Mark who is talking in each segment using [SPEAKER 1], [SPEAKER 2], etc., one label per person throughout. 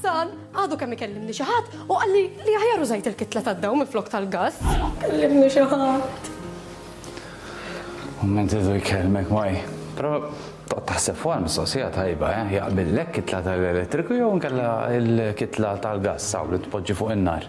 [SPEAKER 1] Sal, għadu kemm ikellimni xi ħadd u qalli li aħjar użajt il-kitla tad-dawl minflok tal-gass. Kellimni xi ħadd.
[SPEAKER 2] Kumment idu jkellmek maj. Però toqgħod taħseb fuqha l-mistoqsija tajba, eh? Jaqbillek kitla tal-elettriku jew inkella l-kitla tal-gass hawn li tpoġġi fuq in-nar?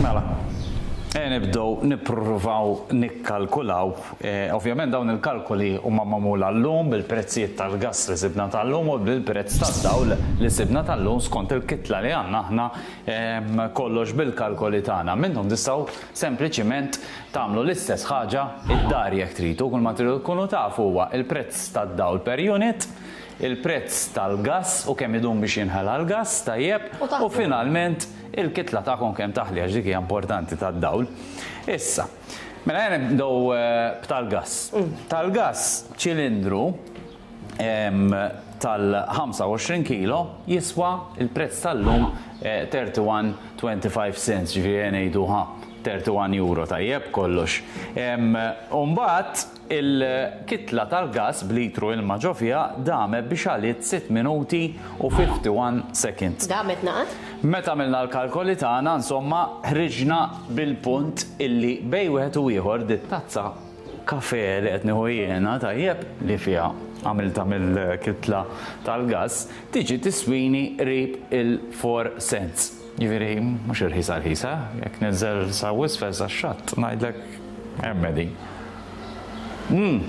[SPEAKER 2] Mela, e nibdew nippruvaw nikkalkulaw. E, ovvjament dawn il-kalkoli huma magħmula llum bil-prezzijiet tal-gass li sibna tal-lum u bil-prezz tad-dawl li sibna tal-lum skont il-kitla li għandna aħna ehm, kollox bil-kalkoli tagħna. Minnhom tistgħu sempliċiment tagħmlu l-istess ħaġa id-dar jekk tridu, kull ma tridu tkunu tafu huwa il-prezz tad-dawl per unit il-prezz tal-gass u kemm idum biex jinħela l-gass tajjeb u finalment il-kitla tagħkom kemm taħli għax dik hija importanti tad-dawl. Issa, mela ejja nibdew b'tal-gass. Tal-gass ċilindru tal-25 kilo jiswa l-prezz tal-lum 31.25 cents, ġifieri ngħidu ħa 31 euro tajjeb kollox. U mbagħad Il-kitla tal-gass b'litru ilma ġo fiha damet biex għaliet sitt minuti u 51 seconds. Damet naqas?
[SPEAKER 3] Meta għamilna
[SPEAKER 2] l-kalkoli tagħna insomma ħriġna bil-punt illi bejn wieħed u ieħor dit-tazza kafe li qed nieħu jiena, tajjeb, li fiha għamiltha mill-kitla tal-gass, tiġi tiswini qrib il-four cents. Jiġifieri mhux irħisa rħisa, jekk ninżel sa wisfel sax-xatt ngħidlek. Ermedi. Mmm.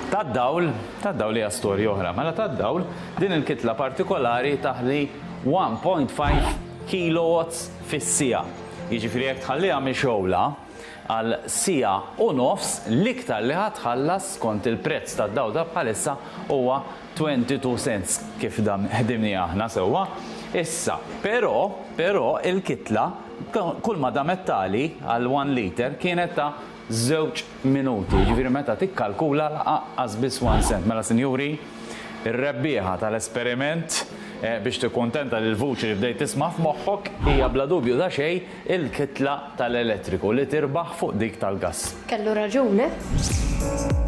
[SPEAKER 2] Tad-dawl, tad-dawl hija storja oħra, mela tad-dawl din il-kitla partikolari taħli 1.5 kilowatts fis-siegħa. Jiġifieri jekk tħalliha mixgħula għal siegħa u nofs, l-iktar li ħa tħallas skont il-prezz tad-dawl ta' bħalissa huwa 22 cents kif dan ħdimniha aħna sewwa. Issa, però, però il-kitla Kulma damet tali għal one liter kienet ta' żewġ minuti, jiġifieri meta tikkalkula laqqas biss one cent. Mela sinjuri, ir-rebbieħa tal-esperiment biex tikkuntenta lill-vuċi li bdejt tisma' f'moħħok hija bla dubju ta' xejn il-kitla tal-elettriku li tirbaħ
[SPEAKER 3] fuq
[SPEAKER 2] dik tal-gass. Kellu raġun,
[SPEAKER 3] eh?